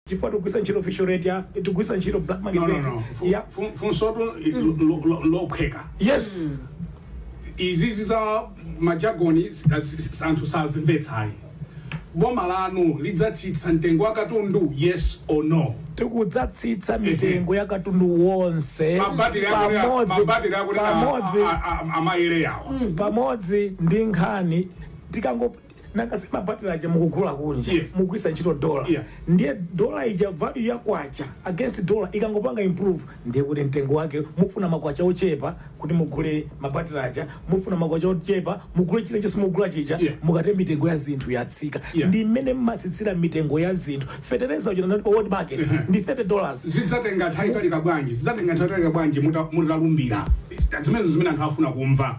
chifukwa tikugwiritsa ntchito official rate ya tikugwiritsa ntchito black market no no rate no Fu- ya fu- funsotu lo- lo- lophweka yes izizi za majagoni s- s- s- anthu sazimvetsayi boma lanu lidzatsitsa mitengo ya katundu yes or no tikudzatsitsa mitengo ya katundu wonse mabatiri akunena pamodzi mabatiri akunena pamodzi a- a- a- amaire yawa pamodzi ndi nkhani tikango nanga si mabatile aja mukugula kunja Yes. mugwisa ntchito dola Yeah. ndiye dola ija value ya kwacha against dola ikangopanga improve ndiye kuti mtengo wake mufuna makwacha ochepa kuti mugule mabatile aja mufuna makwacha ochepa mugule chilichonse mugula chija Yeah. mukatero mitengo ya zinthu yatsika Yeah. ndi mmene mmatsitsira mitengo ya zinthu fetereza uja nanati pa world market Mhm. ndi 30 dollars zidzatenga nthawi italika bwanji zidzatenga nthawi italika bwanji muta- mutalumbira zimenezo zimene anthu afuna kumva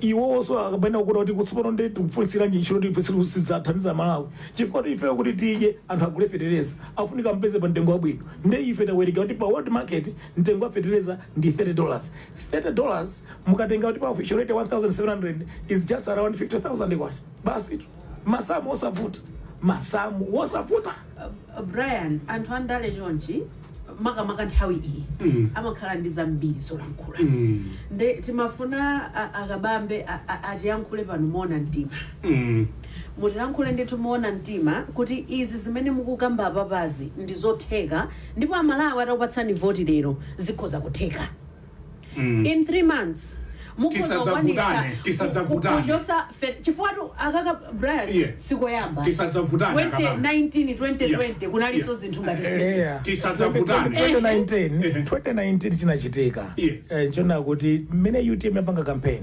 iwonso akapanda kukuta kuti kutsopano ndi tikufunsiranji ntchito tifunsira sidzathandiza malawi chifukwa kuti ifeyo kuti tidye anthu agule fetereza afunika mpeze pa mtengo wabwino nde ife tawerenga kuti pa world market mtengo wa fetereza ndi 30 dollars 30 dollars mukatenga kuti pa official rate 1700 is just around 50000 kwacha basi tu masamu osavuta masamu osavuta Uh, brian anthu andale chonchi makamaka nthawi iyi Mm. amakhala ndi zambiri zolankhula Mm. nde timafuna a- a Kabambe a- a- atiyankhule pano moona mtima Mm. mutiyankhule ndithu moona mtima kuti izi zimene mukukamba apapazi ndi zotheka ndipo amalawi atakupatsani voti lero zikhoza kutheka mm. in 3 months tisadzavutane tisadzavutane chifukwa tu aka ka brian yeah. sikoyamba tisadzavutane 2019 2020 kunaliso zinthu ngati eh, tisadzavutane 2019 eh. chinachitika eh, nchoona kuti mmene utm yapanga campaign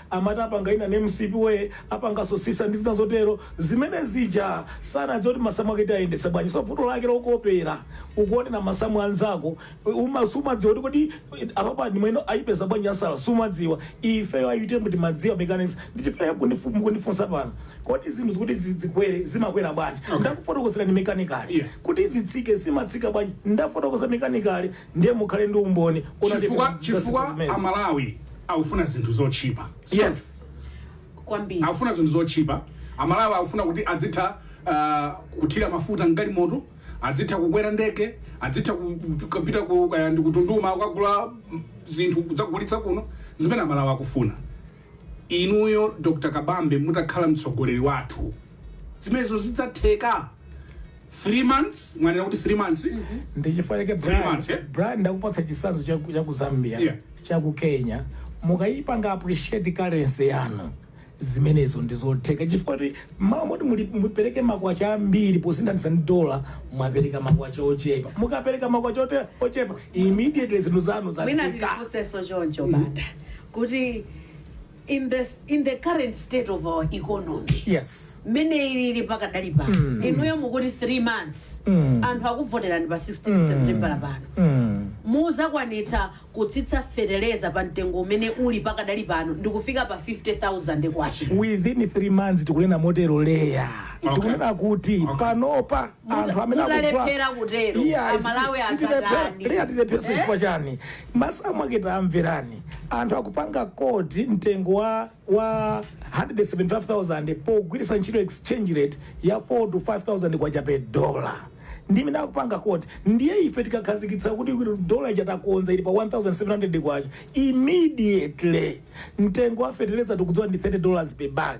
Amata apanga ina ni mcp way, apanga sosisa ndi zina zotero. Zimene zija sanadziwe kuti masamu ake tiayendetsa bwanji. So vuto lake lokopera, ukuonera masamu a nzako uma sumadziwa kuti kodi apapa ndi momwe ayipeza bwanji ansa sumadziwa. Ifeyo a utm timadziwa mechanics ndi chifukwa chake mukundifunsa pano kodi zinthu zikuti zikwere zimakwera bwanji. Okay. Ndakufotokozerani mechanically. Yeah. Kuti zitsike zimatsika bwanji ndafotokoza mechanically. ndiye mukhale ndi umboni kuti analibe chifukwa zidzazi chifukwa zimezi. amalawi akufuna zinthu zotchipa yes kwambiri akufuna zinthu zotchipa amalawi akufuna kuti adzitha uh, kuthira mafuta mgalimoto adzitha kukwera ndege adzitha ku- kupita ku- kaya ndi ku Tunduma kukagula mm, zinthu kudzagulitsa kuno zimene amalawi akufuna Inuyo Dr Kabambe mutakhala mtsogoleri wathu zimenezo zidzatheka? 3 months mwanena kuti 3 months ndi chifukwa chake Brian ndakupatsa chitsanzo cha ku- cha ku zambia Yeah. cha ku kenya mukayipanga appreciate currency yanu zimenezo ndizotheka chifukwa kuti mmawa moti muli- mupereke makwacha ambiri posinthanitsa ndi dola mwapereka makwacha ochepa mukapereka makwacha ote- ochepa immediately zinthu zanu wina zatsika ndifunsenso choncho banda kuti in the current state of our economy yes mmene ilili pakadali pano inuyo mukuti 3 months anthu akuvoterani pa 16 september pano muzakwanitsa kutsitsa feteleza pa mtengo umene uli pakadali pano ndikufika pa 50000 kwacha within 3 months tikunena motero leya Okay. tikunena kuti Okay. panopa anthu amene akugula- mutalephera kutero, Iya, Amalawi siti- sitilephera- asatani. leya tilephera Eh? chifukwa chani Masamu ake tamverani. Anthu akupanga quote mtengo wa wa 175,000 pogwiritsa ntchito exchange rate ya 4 to 5,000 kwacha per dollar. Ndimene akupanga quote. Ndiye ife tikakhazikitsa kuti dollar ija takonza ili pa 1,700 kwacha. Immediately mtengo wa fertilizer tikudziwa ndi 30 dollars per bag.